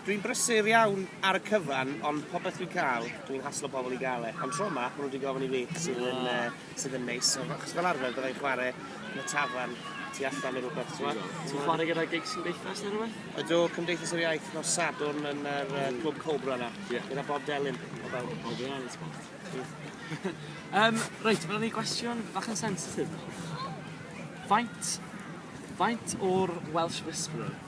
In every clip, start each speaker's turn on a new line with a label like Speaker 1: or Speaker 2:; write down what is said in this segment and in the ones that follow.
Speaker 1: Dwi'n brysur iawn ar y cyfan, ond popeth dwi'n cael, dwi'n haslo pobl i gael e. Ond tro yma, maen nhw wedi gofyn i fi, sydd yn, uh, sydd yn neis. So, achos fel arfer, byddai chwarae yn y tafarn tu allan neu rhywbeth, ti'n gwybod? Ti'n chwarae gyda gigs cymdeithas neu rhywbeth? Ydw, Cymdeithas yr Iaith nos Sadwrn yn yr uh, Clwb Cobra yna, yeah. gyda Bob Delyn. O fel. O, dwi'n angen spot. um, reit, mae'n ni gwestiwn bach yn sensitif. Faint, faint o'r Welsh Whisperer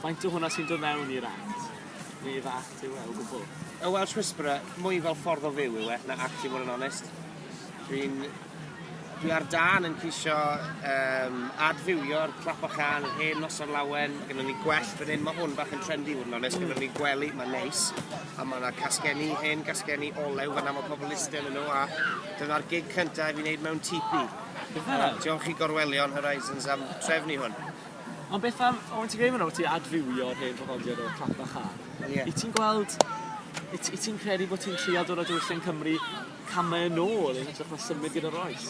Speaker 1: Faint o hwnna sy'n dod mewn i'r act? Neu fy act yw e o gwbl? Y Welsh Whisperer, mwy fel ffordd o fyw yw e, na act i fod yn onest. Dwi'n... dwi ar dân yn ceisio um, adfywio'r clap a chan, yr hen nos ar lawen, mae gennym ni gwell fan hyn, mae hwn bach yn trendy fod yn onest, mm. gennym ni gwely, mae'n neis, a mae yna casgenni, hen casgenni olew fan mae pobl isten yn nhw, a dyna'r gig cyntaf i fi wneud mewn tipi. Diolch i Gorwelion Horizons am trefnu hwn. Ond beth am, o ti'n gweud fan 'na bo' ti adfywio'r hen draddodiad o clap a chân. Ie. Wyt ti'n gweld wyt wyt ti'n credu bo' ti'n trio dod â diwylliant Cymru came yn ôl yn hytrach na symud gyda'r oes?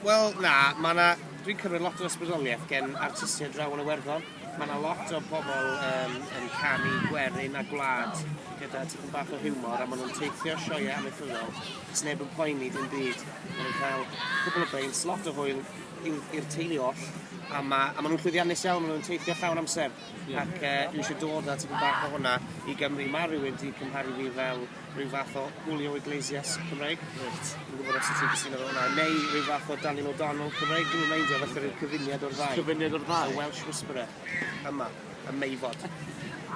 Speaker 1: Wel na, ma' 'na... Dwi'n cymryd lot o ysbrydolieth gen artistied draw yn Iwerddon. Ma' 'na lot o pobol yym yn canu gwerin a gwlad gyda tipyn bach o hiwmor a ma' nw'n teithio sioeau amaethyddol, sneb yn poeni dim byd. Ma' nw'n cael cwpwl o beint, lot o hwyl, i'r, i'r teulu oll, a ma', a ma' nhw'n llwyddiannus iawn, ma' nhw'n teithio llawn amser, ac uh, dwi eisiau dod â tipyn bach o hwnna i Gymru. Mae rhywun wedi cymharu fi fel rhyw fath o Julio Iglesias Cymreig. Reit. Dwi'n gwybod os ti'n cysyno fel hwnna. Neu rhyw fath o Daniel O'Donnell Cymreig. Dwi'n meindio falle rhyw cyfuniad o'r ddau. Cyfuniad o'r ddau? A Welsh Whisperer. yma, ym Meifod.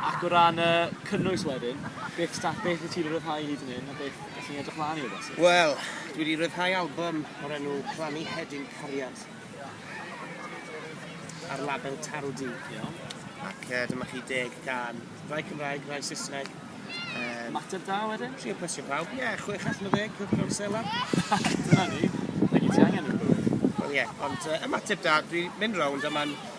Speaker 1: Ac o ran y cynnwys wedyn, beth sta- beth wyt ti 'di rhyddhau hyd yn hyn a beth ydych chi'n edrych mlaen i o bosib? Wel, dwi 'di rhyddhau album o'r enw Plannu Hedyn Cariad ar label Taro D. Iawn. Ac uh, dyma chi deg gan rai Cymraeg, rai Saesneg. Um, Mater da wedyn? Trio plesio pawb. Ie, yeah, chwech allan o ddeg, cwrdd mewn sela. Dyna ni. Mae gen ti angen yn bywyd. Wel ie, yeah, ond uh, ymateb da, dwi'n mynd rownd a mae'n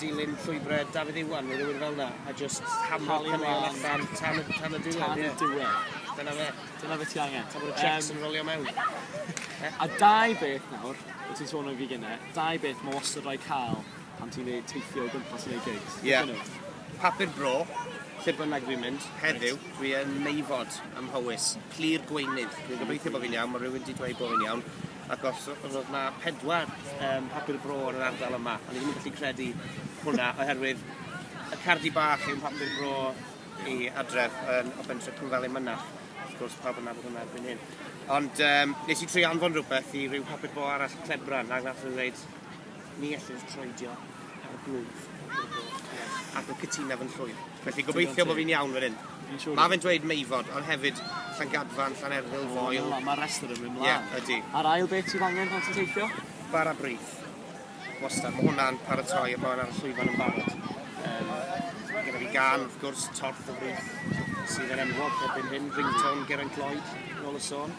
Speaker 1: dilyn llwybrau Dafydd Iwan neu rhywun fel 'na a jyst hamero caneuon allan tan y tan y diwedd. Tan y diwedd. Dyna fe. Dyna beth ti angen. Tan bod y checks yn rolio mewn. A dau beth nawr, wyt ti'n sôn am fi gynne, dau beth mae wastad rhaid cael pan ti'n neud teithio o gwmpas neu gigs. Ie. Papur bro, lle bynnag dwi'n mynd, heddiw, dwi yn meifod ym Mhowys, clir gweinydd. Dwi'n gobeithio bod fi'n iawn, mae rhywun wedi dweud bod fi'n iawn. Ac os roedd 'na pedwar um, papur bro yn yr ardal yma, o'n i ddim yn gallu credu hwnna, oherwydd y cardi bach yw'n papur bro i adref yn o bentre Cwmfelin Mynach. Wrth gwrs, pawb yna bod hwnna erbyn hyn. Ond um, nes i tri anfon rhywbeth i rhyw papur bro arall clebran, ac nath nhw'n dweud, Ni ellir troedio ar y blwch i'r goch colour. Ac mae cytuna fy nllwyf. Felly gobeithio bod fi'n iawn fan hyn. Mae fe'n dweud Meifod, ond hefyd Llangadfan, Llanerfyl, Foel... O, mae'r rhestr yn mynd mlaen. Ie, ydy. A'r ail beth sydd angen pan ti'n teithio? Bara brith. Wastad, mae hwnna'n paratoi a mae hwnna'n llwyfan yn barod. Um, mae gen i fi gan, wrth gwrs, torth o frith sydd yn enwog erbyn hyn, ringtone Geraint Lloyd, nôl y sôn.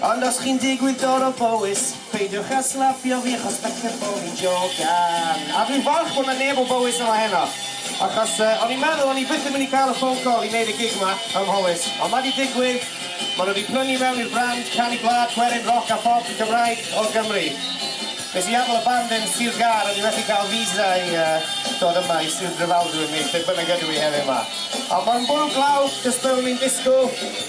Speaker 1: Ond os chi'n digwydd dod o Bowys, peidiwch â slapio fi achos falle bo fi'n jogan. A dwi'n falch bod 'na neb o Bowys yma heno, achos yy o'n i'n meddwl o'n i byth yn mynd i cael y ffôn call i neud y gig 'ma ym Mhowys, ond ma' 'di digwydd, ma' nhw 'di prynu mewn i'r brand canu gwlad, gwerin, roc a phop Cymraeg o Gymru. Nes i adael y band yn Sir Gâr, o'n i methu cael visa i yy dod yma i Sir Drefaldwyn neu lle bynnag ydw i heddiw 'ma. Ond ma'n bwrw glaw, jyst fel o'n i'n disgwl.